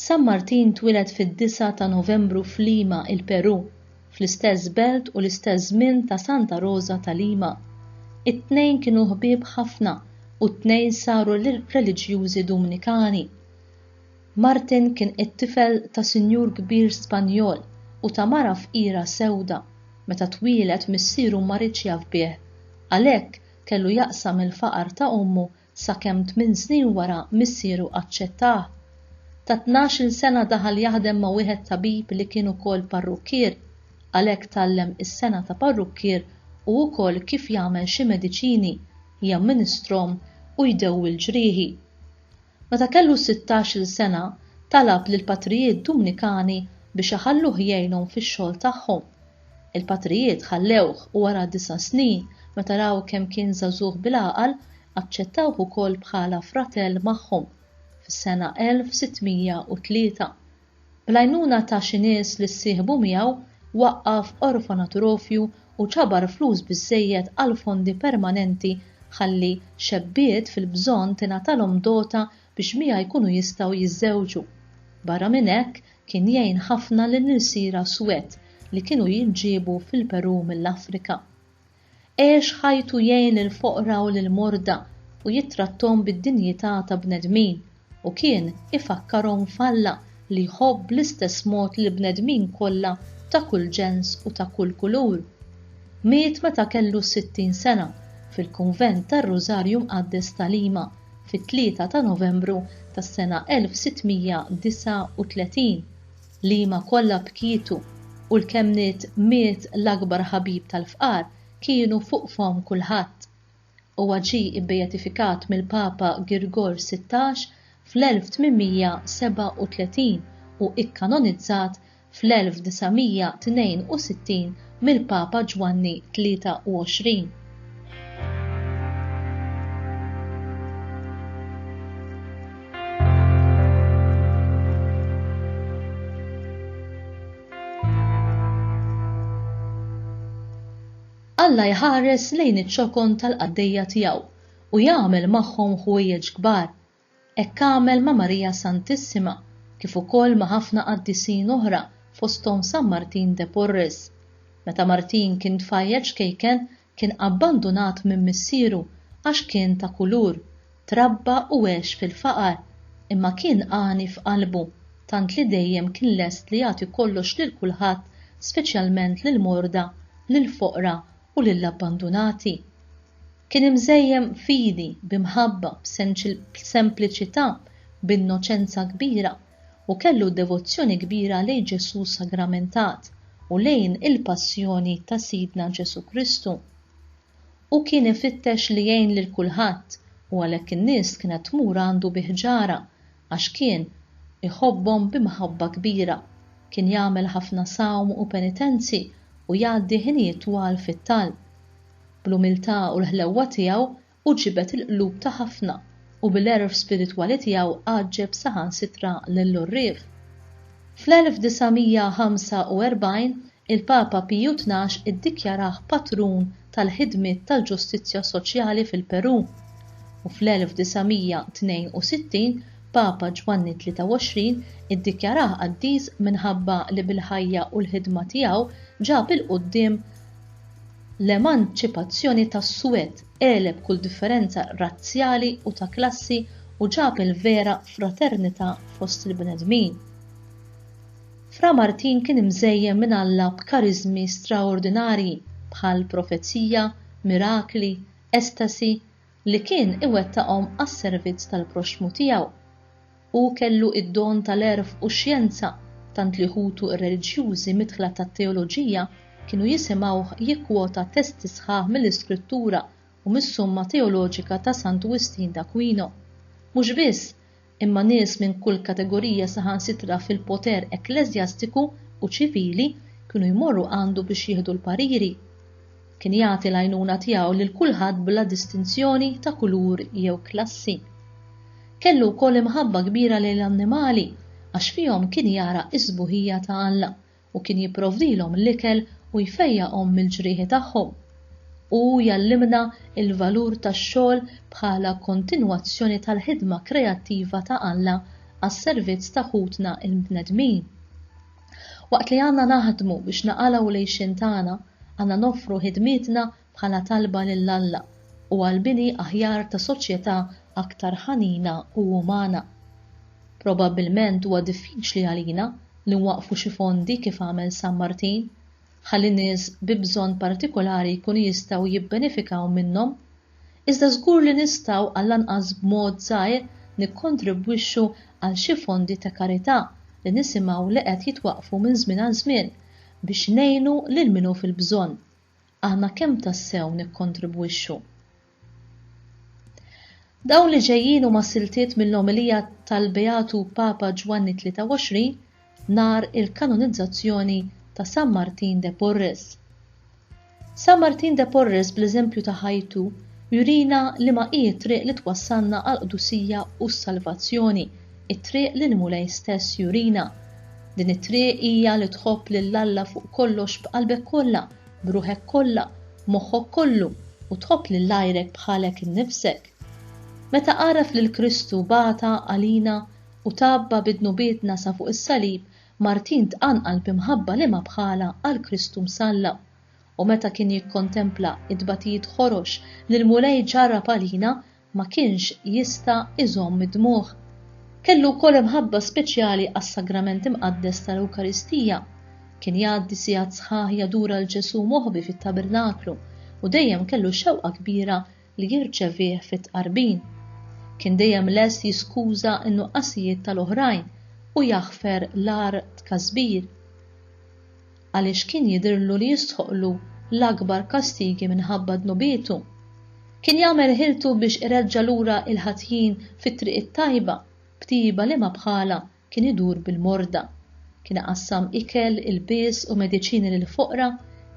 San Martin twieled fid-disgħa ta' Novembru f'Lima, il-Perù, fl-istess belt u l-istess żmien ta' Santa Roża ta' Lima. It-tnejn kienu ħbieb ħafna u t-tnejn saru reliġjużi Dumnikani. Martin kien it-tifel ta' sinjur kbir Spanjol u ta' mara fqira sewda. Meta twieled missieru ma riedx jaf bih. Għalhekk kellu jaqsam il-faqar ta' ommu sakemm tmien snin wara missieru aċċettah. Ta' tnax-il sena daħal jaħdem ma' wieħed tabib li kien ukoll parrukkier, għalhekk tgħallem is-sengħa ta' parrukkier u wkoll kif jagħmel xi mediċini, jamministrhom u jdewwi l-ġrieħi. Meta kellu sittax-il sena, talab lill-patrijiet Dumnikani biex iħalluh jgħinhom fix-xogħol tagħhom. Il-patrijiet ħallewh u wara disa' snin, meta raw kemm kien żagħżugħ bil-għaqal, aċċettawh ukoll bħala fratell magħhom, fis-sena 1603. Bl-għajnuna ta' xi nies li ssieħbu miegħu, waqqaf orfanaturofju u ġabar flus biżżejjed għal fondi permanenti ħalli xebbiet fil-bżonn tingħatalhom dota biex miegħi jkunu jistgħu jiżżewġu. Barra minn hekk, kien jgħin ħafna lill-irsiera swed li kienu jinġiebu fil-Perù mill-Afrika. Għex ħajtu jgħin lill-foqra u lill-morda u jittratthom bid-dinjità ta' bnedmin, u kien ifakkarhom f'Alla li jħobb bl-istess mod lill-bnedmin kollha ta' kull ġens u ta' kull kulur. Miet meta kellu 60 sena, fil-Kunvent tar-Rużarju Mqaddes ta' Lima. fit-tlieta ta' Novembru tas-sena 1639, liema kollha bkietu u l-kemm nied miet l-akbar ħabib tal-fqar kienu fuq fomm kulħadd. Huwa ġie ibbeatifikat mill-Papa Girgor Sittax fl-1837 u ikkanonizzat fl-1962 mill-Papa Ġwanni 23. Alla jħares lejn iċ-ċokon tal-qaddejja tiegħu u jagħmel magħhom ħwejjeġ kbar Hekk għamel ma' Marija Santissima kif ukoll ma' ħafna qaddisin oħra fosthom San Martin de Porres. Meta Martin kien tfajjel ċkejken kien abbandunat minn missieru għax kien ta' kulur, trabba u għex fil-faqar, imma kien għani f'qalbu, tant li dejjem kien lest li jagħti kollox lil kulħadd speċjalment lill-morda, lill-foqra u lill-abbandunati. Kien imżejjem b'fidi, b'imħabba, b'sempliċità, b'innoċenza kbira, u kellu devozzjoni kbira lejn Ġesù sagramentat u lejn il-Passjoni ta' Sidna Ġesù Kristu. Hu kien ifittex li jgħin lil kulħadd u għalhekk in-nies kienet tmur għandu bi ħġara għax kien iħobbhom b'imħabba kbira. Kien jagħmel ħafna sawm u penitenzi u jgħaddi ħinijiet twal fit-talb. bl-umiltà u l-ħlewwa tiegħu hu ġibed il-qlub ta' ħafna u bil-għerf spiritwali tiegħu għaġġeb saħansitra lill-għorrief. Fl-1945 il-Papa Piju Tnax iddikjarah patrun tal-ħidmiet tal-ġustizzja soċjali fil-Perù u fl-1962 Papa Ġwanni 23 iddikjarah qaddis minħabba li bil-ħajja u l-ħidma tiegħu ġab 'il quddiem L-emanċipazzjoni tas-Swed għeleb kull differenza razzjali u ta' klassi u ġab il-vera fraternità fost il-bnedmin. Fra Martin kien imżejjen minn Alla b'kariżmi straordinarji bħal profezija, mirakli, estasi, li kien iwettaqhom għas-servizz tal-proxxmu tiegħu. Hu kellu id-don tal-għerf u x-xjenza, tant li ħutu r-reliġjużi midħla tat-teoloġija kienu jisimgħuh jikkwota testi sħaħ mill-Iskrittura u mis-Summa Teoloġika ta' Sant Wistin d'Aquino. Mhux biss, imma nies minn kull kategorija saħansitra fil-poter ekkleżjastiku u ċivili kienu jmorru għandu biex jieħdu l-pariri. Kien jagħti l-għajnuna tiegħu lil kulħadd bla distinzjoni ta' kulur jew klassi. Kellu wkoll imħabba kbira lejn l-annimali għax fihom kien jara s-sbuħija ta' Alla u kien jipprovdilhom l-ikel u jfejjaqhom mill-ġrieħi tagħhom. Hu jgħallimna l-valur tax-xogħol bħala kontinwazzjoni tal-ħidma kreattiva ta' Alla għas-servizz ta' ħutna l-bnedmin. Waqt li għandna naħdmu biex naqalgħu l-għixien tagħna, għandna noffru ħidmietna bħala talba lil Alla u għall-bini aħjar ta' soċjetà aktar ħanina u umana. Probabbilment huwa diffiċli għalina li nwaqqfu xi fondi kif għamel San Martin, ħalli nies bi bżonn partikolari jkunu jistgħu jibbenefikaw minnhom, iżda żgur li nistgħu għallanqas b'mod żgħir nikkontribwixxu għal xi fondi ta' karità li nisimgħu li qed jitwaqqfu minn żmien għal żmien biex ngħinu lil min hu fil-bżonn. Aħna kemm tassew nikkontribwixxu? Dawn li ġejjin huma siltiet mill-omelija tal-Beatu Papa Ġwanni 23 nhar il-kanonizzazzjoni ta' San Martin de Porres. San Martin de Porres bl-eżempju ta' ħajtu jurina liema hi t-triq li twassalna għall-qdusija u s-salvazzjoni, it-triq li l-Mulej stess jurina. Din it-triq hija li tħobb lil Alla fuq kollox b'qalbek kollha, b'ruħek kollha, b'moħħok kollu u tħobb lil għajrek bħalek innifsek. Meta għaraf lil Kristu bagħta għalina u tgħabba bi dnubietna sa fuq is-salib, Martin tqanqal bi mħabba li ma bħalha għal Kristu msallab. U meta kien jikkontempla t-tbatijiet ħorox li l-Mulej ġarrab għalina, ma kienx jista' iżomm id-dmugħ. Kellu wkoll imħabba speċjali għas-Sagrament Imqaddes tal-Ewkaristija. Kien jgħaddi sigħat sħaħ jadura 'l Ġesù moħbi fit-tabernaklu u dejjem kellu xewqa kbira li jirċevih fit-tqarbin. Kien dejjem lest jiskuża n-nuqqasijiet tal-oħrajn u jaħfer l-agħar tkasbir, għaliex kien jidhirlu li jistħoqqlu l-akbar kastigi minħabba dnubietu. Kien jagħmel ħiltu biex ireġġa' lura l-ħatjin fit-triq it-tajba b'tjieba liema bħalha Kien idur bil-morda, kien iqassam ikel, ilbies u mediċini lill-foqra,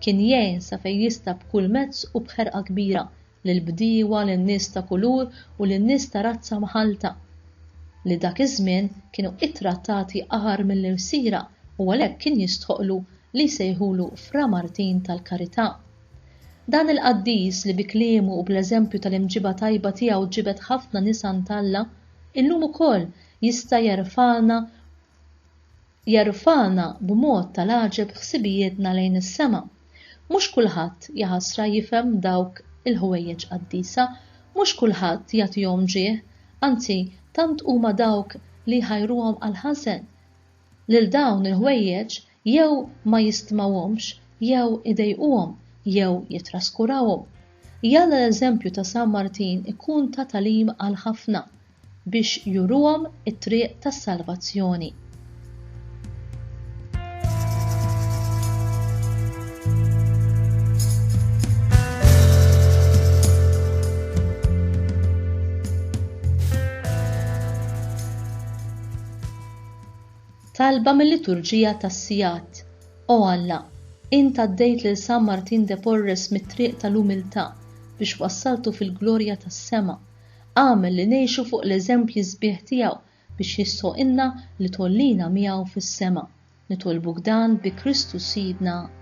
kien jgħin sa fejn jista' b'kull mezz u b'ħerqa kbira lill-bdiewa, lin-nies ta' kulur u lin-nies ta' razza mħallta, li dak iż-żmien kienu ittrattati agħar mill-irsiera u għalhekk kien jistħoqqlu li jsejħulu Fra Martin tal-Karità. Dan il-qaddis li bi kliemu u bl-eżempju tal-imġiba tajba tiegħu ġibed ħafna nisan t'Alla, illum ukoll jista' jerfagħna jerfagħna b'mod tal-għaġeb ħsibijietna lejn is-sema. Mhux kulħadd, jaħasra, jifhem dawk il-ħwejjeġ qaddisa, mhux kulħadd jagħtihom ġieħ, anzi tant huma dawk li jħajruhom għall-ħażen. Lil dawn il-ħwejjeġ jew ma jistmawhomx jew idejquhom jew jittraskurawhom. Jalla l-eżempju ta' San Martin ikun ta' tagħlim għal ħafna biex juruhom it-triq tas-salvazzjoni. Talba mil-liturġija tas-sigħat, O Alla, int għaddejt lil San Martin de Porres mit-triq tal-umiltà biex wassaltu fil-glorja tas-sema. Agħmel li ngħixu fuq l-eżempji sbieħ tiegħu biex jistħoqqilna li tgħollina miegħu fis-sema. Nitolbuk dan bi Kristu Sidna.